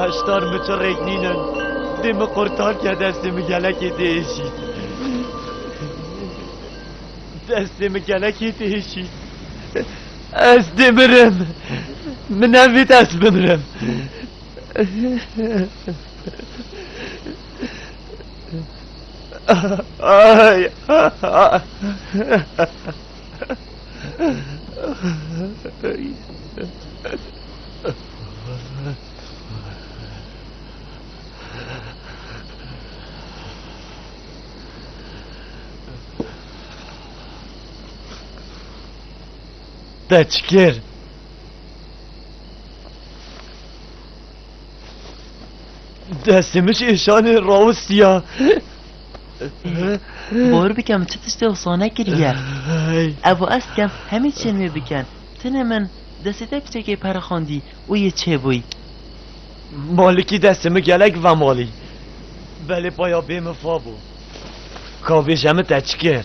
Heştar mi çirrêk nînin. Dê min qurtar ke destê min gelekê tê hêşî. Destê min gelekê tê hêşî. Ez dê mirim. Min nevît ez bimirim. Ay. Teçkir. Destimiz işanı Rausya. Bor bikem çi tiştê wisa nekiriye. Ev û ez dikem hemî çiyên wê bikin. Tenê min destê te kiçekê perixandî û yê çêbûy. Malikî destê min gelek vemalî. Belê paya bê min fa bû. Ka bêje min te çi kir?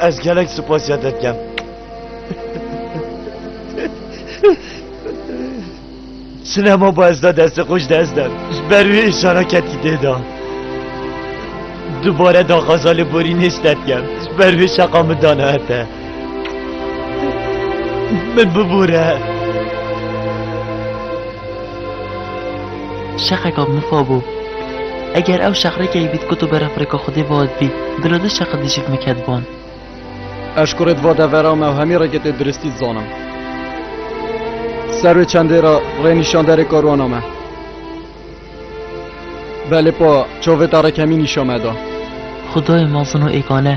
Ez gelek spasya te dikem. Sinema ba ez da deste xweş dest dem. Ji ber wê îşana ketî dê da. Dubare da xaza li borî nêşte dikem. Ji ber wê şeqa min dana her te. Min bibûre. Şeqeka mifa bû. Eger ew şeq rê keyvît ku tu beref rêka Xwedê vat bî, bila du şeqi dijîk miket ban. Ez ji kurê di va devera me û hemî rêkê tê diristî dizanim. Ser wê çendê re rê nîşanderê karwana me. Belê pa çavê te rêk hemî nîşan me da. Xwedayê mezin û êgane.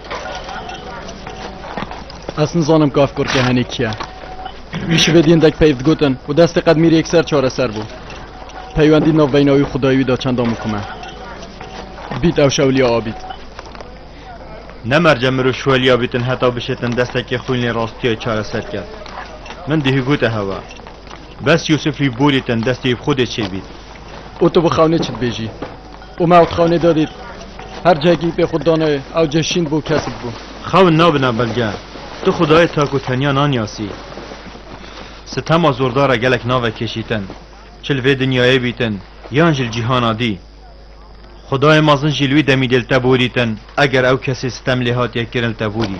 Ez nizanim kaf kurke henê kiye. Wî şivê dîndek peyv digotin û destê qedmîrê yekser çareser bû. Peywendî nav beyna wî xudayê wî da çenda mukim e. Bît ew şewliya abît. Ne merce mirov şewliya bîtin heta bişêtin destekê xwîn lê rastiyayê çareser ket. Min dihî gote hewa. Bes Yûsif wî borîtin destê wî bi xwedê çêbît. Û tu bi xewnê çi dibêjî? û me otxanê de dît. Her cihekî pê xwe danayê, ew cih şîn bû, kesik bû. Xewin nabina belge. Tu xwedayê tak û tenya naniyasî. Sitema zordar e gelek nave kêşîtin. Çi li vê dinyayê bîtin yan jî li cîhana dî. Xwedayê mezin jî li wî demî dê li te borîtin eger ew kesê sitem lê hatiye kirin li te borî.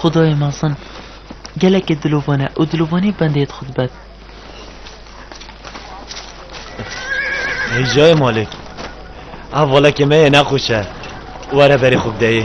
Xudayê mezin gelekê dilovan e û dilovanî bendê dixwe di bet. Hêjayê malê ev valekê me yê nexweş e were berê xwe bideyê.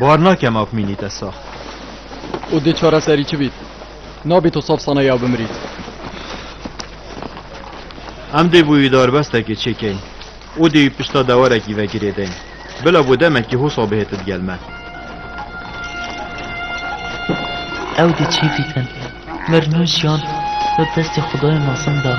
Bar nake maf mînî te sax. Û dê çareserî çi bît? Nabî tu saf sana ya bimrît. Em dê bûyî darbestekê çêkeyn û dê wî pişta dewarekî vegirê deyn. Bila bo demekî hosa bihêti digel me. Ew dê çê bikin. Mer nû jiyan di destê xwedayê mezin de ye.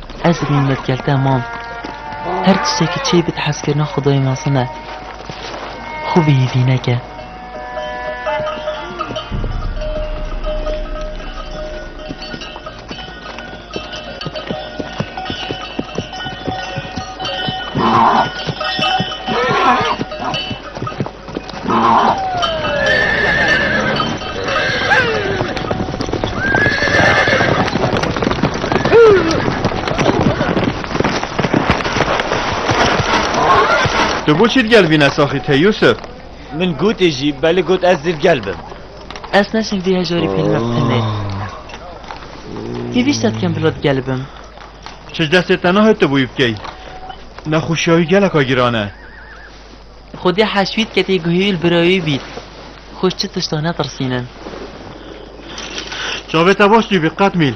Ez dibînim me dikerte mam. Her tiştekî çêy bid hezkirina xwedayê mezin e. Xwe bihî vîneke. Tu bû çî gel vîne saxî te Yusuf? Min gotê jî belê got ez dîv gel bim. Ez neşin vî hejarî pêlime tenê. Hêvî ştet kem bila gel bim. Çi destê te nahê tu bûyî bikey. Nexweşiyayî geleka giran e. Xwedî heşwît ke tê guhî û bira wî bît. Xwîş çi tiştan netirsînin. Çavê te baş dîbî qet mîl.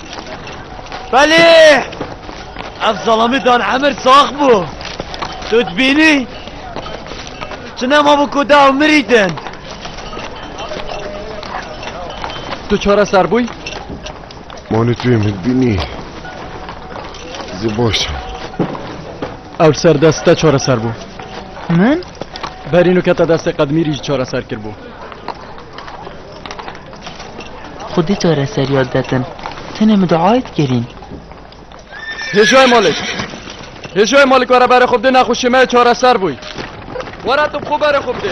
Belê! Ev zalamî dan emir sax bû. Tu dibînî? Çi nema bû ku dew mirîtin. Tu çare ser bûy? Manî tu yê min dibînî. Zê baş e. Ew ser dest te çare ser bû. Min? Berîn û kete destê qedmîrî jî çare ser kirbû. Xwedî çareseriya detin. Tenê min duayê dikerîn. Hêjoyê Malik! Hêjoyê Malik were berê xwe bidê nexweşiyê me yê çareser bûy. Were tu bi xwe berê xwe bidê.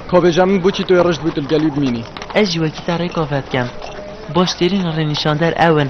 Ka bêje min boçî tu yê rijd bû tu li gelî bimînî. Ez jî wekî te rêka vedikem. Baş têrîn rênîşander ew in.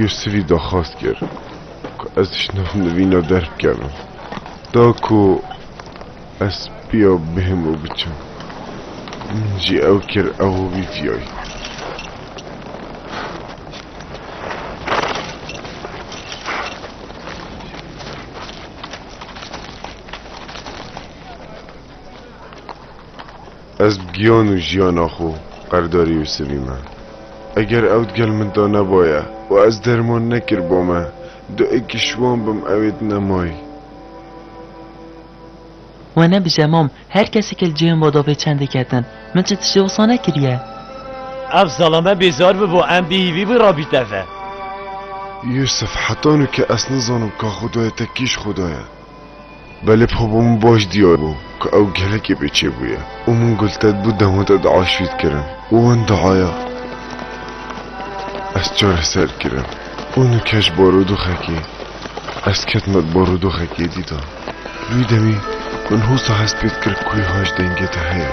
Yusifî daxwaz kir ku ez ji nav nivîna derbikevim. Da ku ez pêya bihim û biçim. Min jî ew kir ew û wî viyayî. Ez bi giyan û jiyana xwe qerdarî Yûsivî me. Eger ew di gel min de nebaye û ez derman nekiribû me, du ekî şiwan bim ew ê di nemayî. We nebije mam, her kesekê li cihên we de vê çendê ketin. Min çi tiştê wisa nekiriye. Ev zalame bêzar bibû, em bêhîvî bû rabî teve. Yûsiv, Heta nû ke ez nizanim ka Xwedayê te kî ji Xweda ye. Belê Popo min baş diyar bû ku ew gelekî bêçe bûye û min gultet bû dema te dua şwît kirin û wan duaya ez çareser kirin û nûke ji barodoxekê ez ketime di barodoxekê dî de. Wî demî min hûsa hest pê dikir ku wî haj dengê te heye.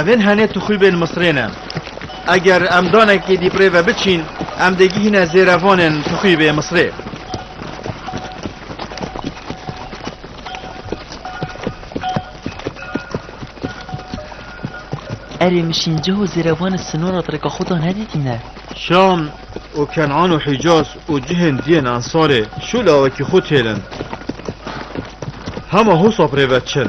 Evên henê tuxûbên Misrê ne. Eger em danekê dî pirê ve biçîn, em dê gihîne zêrevanên tuxûbê Misrê. Erê min şînceh û zêrevan li sinora Tireka xwe de nedîtîne. Şam û Kenan û Hîcaz û cihên dî yên Ensarê şû lawekî xwe têlin. Hema hosa pirê ve çin.